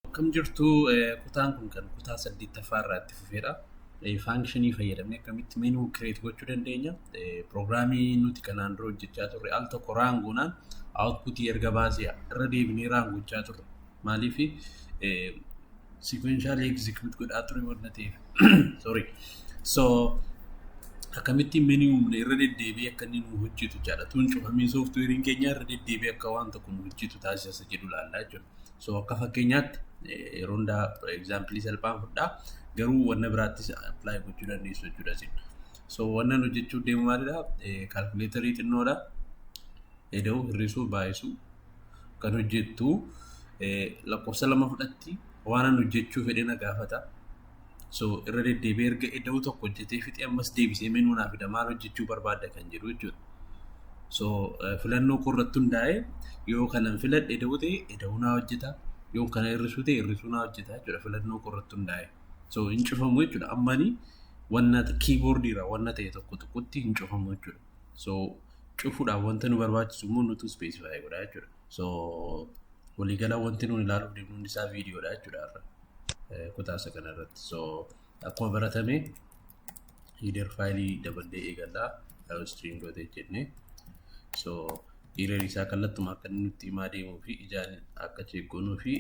Akkam jirtu kutaan kun kan kutaa saddeettaffaa irraa itti fufeedha. Faankishinii fayyadamne akkamitti meenuu kireet gochuu dandeenya. Pirogiraamii nuti kanaan dura hojjechaa turre al tokko raangoonaan awutpuutii erga baasee irra deebinee raangochaa turre. Maaliif sikweenshaalii egzikiyuut godhaa ture waan ta'eef. Sorry. So akkamitti mini humna irra deddeebi'ee akka inni nu hojjetu jechaadha. Tuun cufamee sooftuweeriin keenya irra deddeebi'ee akka waan tokko nu hojjetu taasisa jedhu ilaalla jechuudha. So akka fakkeenyaatti yeroo hundaa egzaampilii salphaan fudhaa garuu wanna biraattis apply gochuu dandeessu jechuudha isin. So wanna nu jechuu deemu maalidha? Kaalkuleetarii xinnoodha. Eda'u hir'isuu baay'isuu kan hojjettu lakkoofsa lama fudhatti waan an hojjechuu fedhe na gaafata. So irra deddeebi'ee erga eda'uu tokko hojjetee fixee ammas deebisee menuu naa fida maal hojjechuu barbaadda kan jedhu jechuudha. So eh, filannoo koo irratti hundaa'e yoo kanan filadhe eda'uu ta'e eda'uu naa hojjeta yoo kana hir'isuu ta'e hir'isuu naa hojjeta jechuudha filannoo koo irratti hundaa'e. So hin cufamu jechuudha ammani wanna kiiboordiirraa wanna ta'e tokko tuqutti hin cufamu jechuudha. So cufuudhaaf wanta nu barbaachisu immoo nutu ispeesifaayi godha jechuudha. So waliigala wanti nuun ilaaluuf deemnu hundi isaa viidiyoodha jechuudha. kutaa isa kana irratti. So akkuma baratame hiider faayilii daballee eegallaa string dot jennee. So hiider isaa kallattuma akka inni nutti himaa deemuu fi ijaan akka cheekkoonuu fi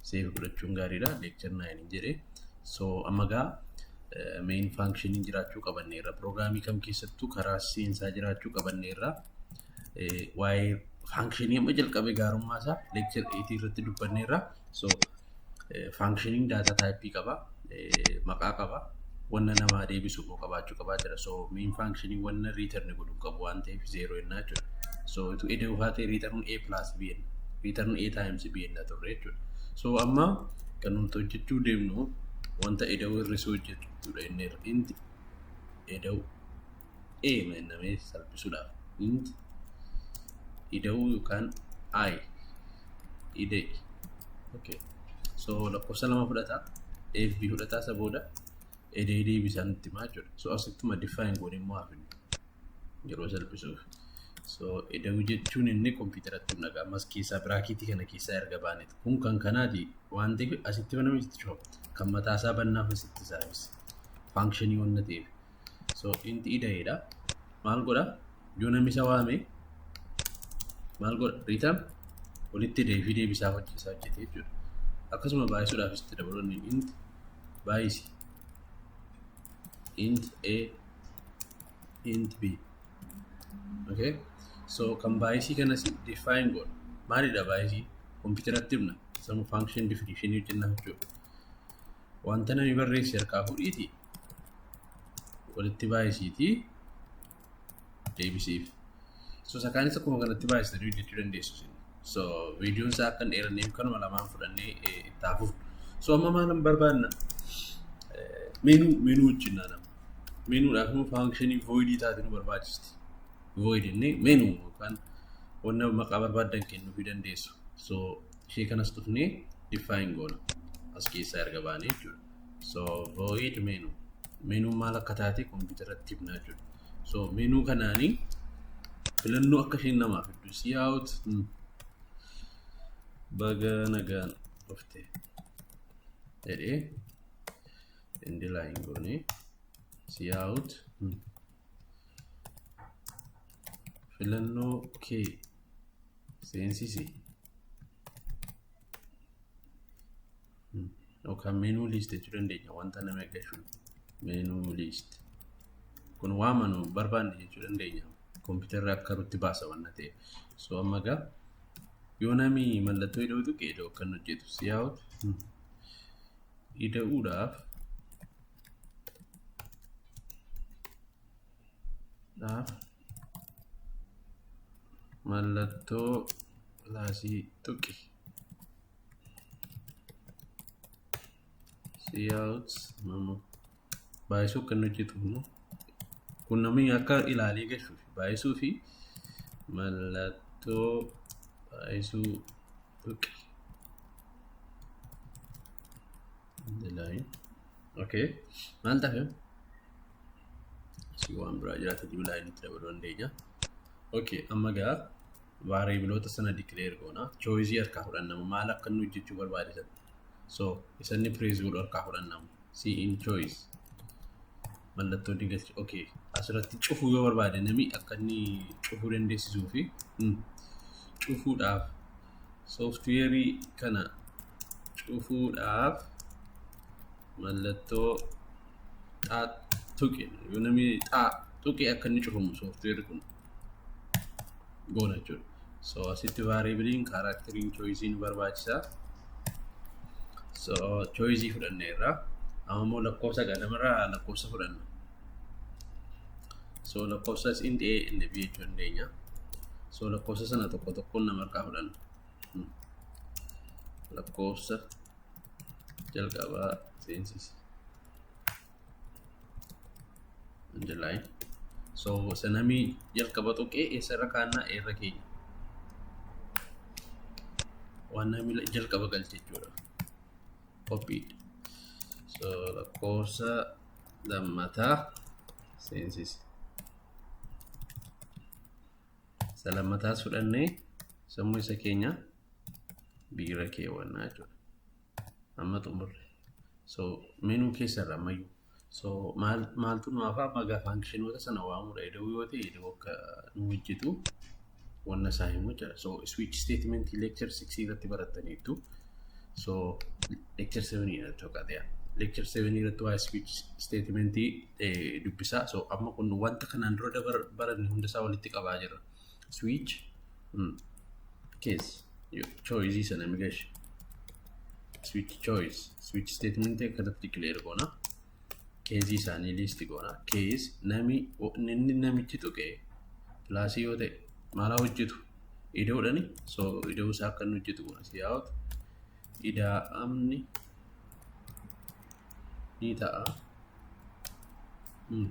seevi godhachuun gaariidha. Leekchar naayin hin jedhe. So amma gaa main functionin jiraachuu qabanneerra. Piroograamii kam keessattuu karaa seensaa jiraachuu qabanneerra. waa'ee faankishinii amma jalqabe gaarummaa isaa leekchar 8 irratti dubbanneerra. So faankishiniin daataa taayippii qaba, maqaa qaba, wanna namaa deebisu immoo qabaachuu qabaa jira. So miin faankishinii wanna riitarni godhu qabu waan ta'eef zeeroo jennaa jechuudha. So utuu edee ufaa ta'e riitarni A plus B jenna. Riitarni A times B jenna turre jechuudha. So amma kan nuti hojjechuu deemnu wanta eda'uu hir'isuu hojjechuudha inni irra. Inti eda'uu. A mannamee salphisuudhaaf int ida'uu yookaan I ida'i. Okay. So lakkoofsa lama fudhata. A fi B fudhata isa booda ida'ee deebisaa nutti himaa jechuudha. So asittuma define goone immoo hafin yeroo salphisuuf. So ida'uu jechuun inni kompiitaratti humna qaamas keessaa biraakiitii kana keessaa erga baaneeti. Kun kan kanaati waan ta'eef asitti banamee itti cufa. Kan mataasaa bannaaf asitti saabis. Faankshanii waan ta'eef. so inti ida'eedha maal godha yoo namni isa waame maal godha riitam walitti deebii deebisaa hojjeesaa hojjete jechuudha akkasuma baay'isuudhaaf itti dabalonni int baay'isi int a int b okay so kan baay'isii kanas define godha maalidha baay'isii kompiitaratti himna sama function definition hojjennaa jechuudha wanta namni barreesse harkaa fuudhiiti walitti baay'isiiti deebisiif. So sakaanis akkuma kanatti baay'isanii hojjechuu dandeessu. So viidiyoon isaa akka hin dheeranneef kanuma lamaan fudhannee itti hafuuf. So amma maalan barbaanna? Meenuu meenuu wajjin naannama. Meenuudhaaf immoo faankishinii voidii taate nu barbaachisti. Void inni meenuu yookaan wanna maqaa barbaaddan kennuu fi dandeessu. So ishee kanas dhufnee define goona as keessaa erga baane jechuudha so void menu menu maal akka taate kompiitaratti himnaa jechuudha so menu kanaanii filannoo akka isheen namaaf hedduu si out baga nagaan dhufte jedhee indilaayin goone si out filannoo kee seensisi yookaan meenuu liist jechuu dandeenya wanta nama eeggachuun meenuu liist kun waan manu barbaanne jechuu dandeenya kompiitarri akka rutti baasa waan ta'eef so amma egaa yoo nami mallattoo ida'uu tuqe ida'uu akka inni hojjetu si yaa'utu ida'uudhaaf dhaaf mallattoo pilaasii tuqi. Siyaawut mama baay'isuu akka inni hojjetu immoo kun namni akka ilaalee gashuuf baay'isuu fi mallattoo baay'isuu tuqi. Dilaayi. Okay. Maal ta'a? si waan biraa jiraate dibu laayinitti dabaluu dandeenya. Okay, amma gaa vaariyabiloota sana dikileer goona. Chooyizii harkaa fudhannama maal akka inni hojjechuu barbaade satti. So isa inni pirees godhu harkaa fudhannama. Si in chooyiz mallattoo digalchi. Okay, asirratti cufuu yoo barbaade nami akka inni cufuu dandeessisuu fi mm, cufuudhaaf sooftiweerii kana cufuudhaaf mallattoo xaa tuqi yoo namni xaa tuqi akka inni cufamu sooftiweerri kun goona jechuudha. So asitti vaariibiliin kaaraakteriin chooyizii nu barbaachisa. So chooyizii fudhanne irraa amma immoo lakkoofsa gadamarraa lakkoofsa fudhanna. So lakkoofsas int A int B jechuu dandeenya. So lakkoofsa sana tokko tokkoon nama harkaa fudhanna. Lakkoofsa jalqabaa seensisi July so sanamii jalqaba tuqee eessarra kaannaa eerra keenya waan namni jalqaba galche jechuudha copied so lakkoofsa lammataa seensisi isa lammataas fudhannee sammuu isa keenya biira keewwannaa jechuudha. Amma xumurre. So menu keessa irra ammayyuu. So maal maaltu nu hafaa amma gaafa fankishinoota sana waamudha. Ida'uu yoo ta'e ida'uu akka nu hojjetu wanna isaa himu jira. So switch statement lecture 6 irratti barattaniittu. So lecture 7 irratti tokkateera. Lecture 7 irratti waa switch statement dubbisaa. So amma kun wanta kanaan dura dabar baranne hunda isaa walitti qabaa jira. switch mm, case yo choice isa nami gashi switch choice switch statement kanatti declare goona keezii isaanii list goona kees nami inni namichi tuqe pilaasii yoo ta'e maalaa hojjetu idoodhani so idoo isaa akka inni hojjetu goona si yaa'otu idaa'amni ni ta'a. Mm.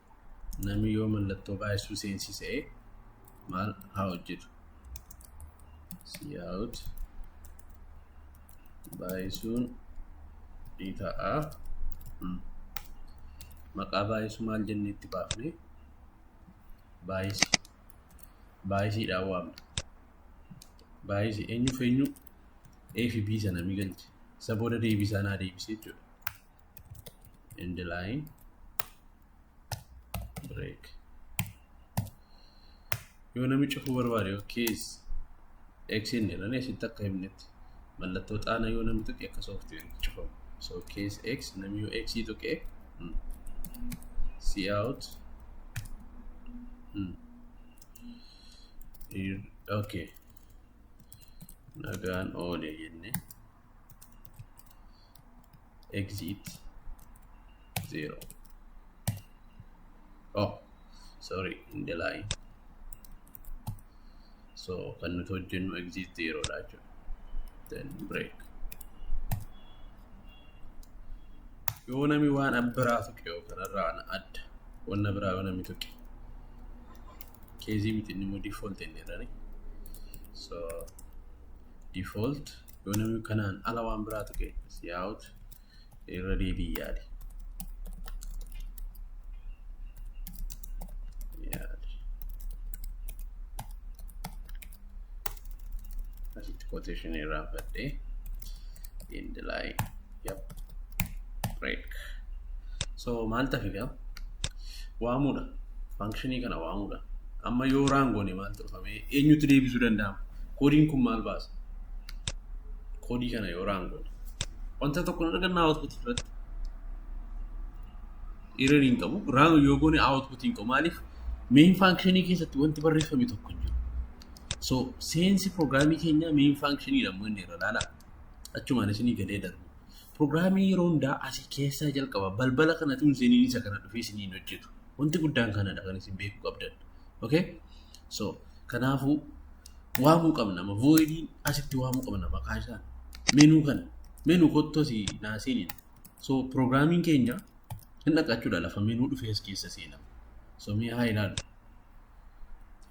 namni yoo mallattoo baay'isuu seensise maal haa hojjetu siyaa'ut baay'isuun ni ta'a maqaa baay'isuu maal jennee itti baafne baay'isi baay'isiidhaan waamna baay'isi eenyuuf eenyu A fi B sana ni galche isa booda deebisaa naa deebisee jechuudha. end line break yoo namni cufuu barbaade yookiis eksiin jedhan asitti akka himnetti mallattoo xaana yoo namni tuqe akka sooftiweeritti cufamu so kees x namni yoo x tuqe see out hmm. okay nagaan oole jenne exit 0 oh sorry in the line so kan nuti hojjennu exit 0 dha jechuudha then break yoo nami waan abbiraa tuqe yoo kanarraa ana adda wanna biraa yoo nami tuqe keezii miti inni immoo default inni jedhani so default yoo namni kanaan ala waan biraa tuqe si out irra deebii yaali. Yaali. Asitti quotation irraa fadhee end line. Yep. Break. So maal tafe gaa? Waamuudha. Faankshinii kana waamuudha. Amma yoo raangoone maal turfame eenyutti deebisuu danda'ama? Koodiin kun maal baasa? Koodii kana yoo raangoone. Wanta tokko hin arganna output irratti. Error hin qabu. Raan yoo goone output hin qabu. Maaliif? Main faankshinii keessatti wanti barreeffame tokko hin jiru. So seensi pirogiraamii keenyaa main faankshinii dha immoo inni irra laala. achumaan isinii galee darbu. Pirogiraamii yeroo hundaa asii keessaa jalqaba balbala kanatu hin seeniin isa kana dhufee isinii hin hojjetu. Wanti guddaan kanadha kan isin beekuu qabdan. Okay? So kanaafuu waamuu qabna amma voidiin asitti waamuu qabna maqaa isaa menuu kana menuu kottu asii naa seeniin. So pirogiraamiin keenya hin dhaqachuudha lafa menuu dhufee as keessa seenama. So mee haa ilaallu.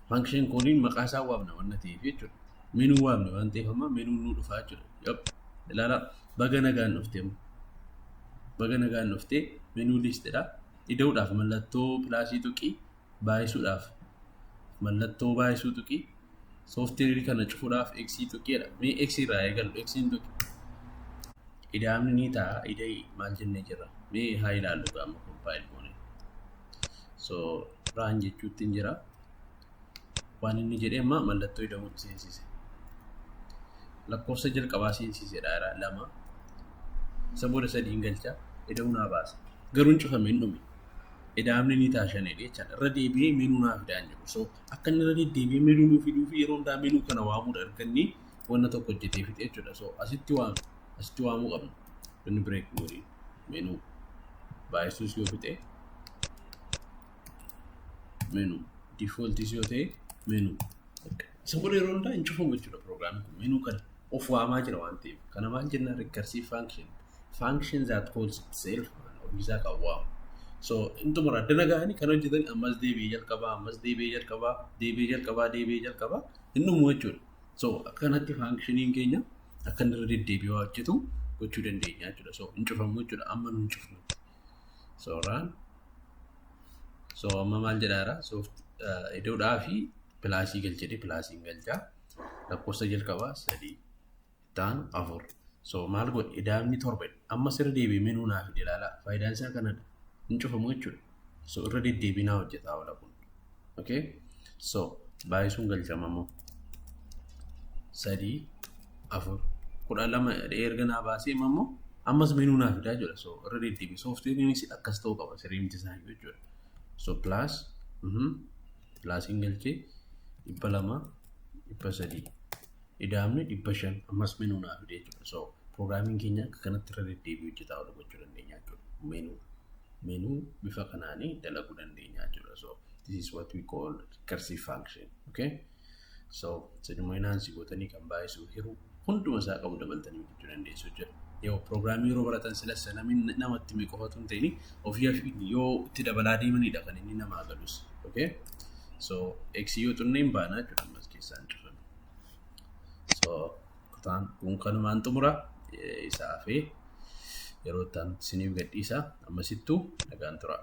Function koodiin maqaa isaa waamna waan ta'eef jechuudha. Menuu waamne waan ta'eef amma menuun nu dhufaa jechuudha. Yop. Ilaalaa baga nagaan dhuftee amma. Baga nagaan dhuftee menuu liistidha. Ida'uudhaaf mallattoo pilaasii tuqii baay'isuudhaaf mallattoo baay'isuu tuqii sooftiweerii kana cufuudhaaf eksii tuqiidha. Mee eksii irraa eegalu eksiin tuqi. Ida'amni ni ta'a ida'ii maal jennee jirra. Mee haa ilaallu gaama kompaayil goone. so raan jechuutti hin jira waan inni jedhe amma mallattoo ida'uun seensise lakkoofsa jalqabaa seensisedha jira lama isa booda sadii hin galcha ida'uu naa baasa garuu hin cufame hin dhume ida'amni ni taashanedha jechaadha irra deebi'ee menuu naa fidaa hin jedhu so akka inni irra deddeebi'ee menuu nuu fiduu fi yeroo hundaa menuu kana waamuudha erganni wanna tokko hojjetee fixe jechuudha so asitti waamu asitti waamuu qabna inni bireek goodii menu baay'isuus yoo fixe menu defaultis yoo ta'e menu isa booda yeroo hundaa hin cufamu jechuudha proogiraamiin kun menu kana of waamaa jira waan ta'eef kana maal jennaan recursive function function that calls itself ofiisaa kan waamu so intuma addana ga'anii kan hojjetan ammas deebi'ee jalqabaa ammas deebi'ee jalqabaa deebi'ee jalqabaa deebi'ee jalqabaa hin dhumu jechuudha So akka kanatti faankishiniin keenya akka inni irra deddeebi'ee waa hojjetu gochuu dandeenya jechuudha. So hin cufamu jechuudha amma nu hin cufnutti. So raan so amma maal jedhaara so idoodhaa fi pilaasii galchedhe pilaasiin galchaa lakkoofsa jalqabaa sadii ta'an afur. So maal godhe idaamni torba amma sirra deebi'ee menuu naaf ilaala faayidaan isaa kanadha hin cufamu jechuudha. so irra deddeebinaa hojjetaa oola kun okay so baay'isuun galchamamoo sadii afur kudha lama erga naa baasee immoo ammas menuu naa fidaa jira so irra deddeebi sooftiweeriinis akkas ta'uu qaba sirrii miti isaa iyyuu jechuudha so plus mhm plusiin galchee dhibba lama dhibba sadii idaamni dhibba shan ammas menuu naa fidee jechuudha so piroograamiin keenya akka kanatti irra deddeebi hojjetaa oolu gochuu dandeenya jechuudha menuu menu bifa kanaan dalaguu dandeenya jechuudha. So this is what we call recursive function. Okay? So seduma inaansi gootanii kan baay'isuu hiruu hunduma isaa qabu dabaltanii hojjechuu dandeessu jechuudha. Yoo pirogiraamii yeroo baratan silas namni namatti mee qofatu hin ta'in ofii ofiin yoo itti dabalaa deemanidha kan inni namaa galus. Okay? So x yoo xunne hin baana jechuudha ammas keessaan cufame. So kutaan kun kanumaan xumura isaa hafee yeroo itti aanutti isiniif gadhiisa ammasittuu nagaan turaa.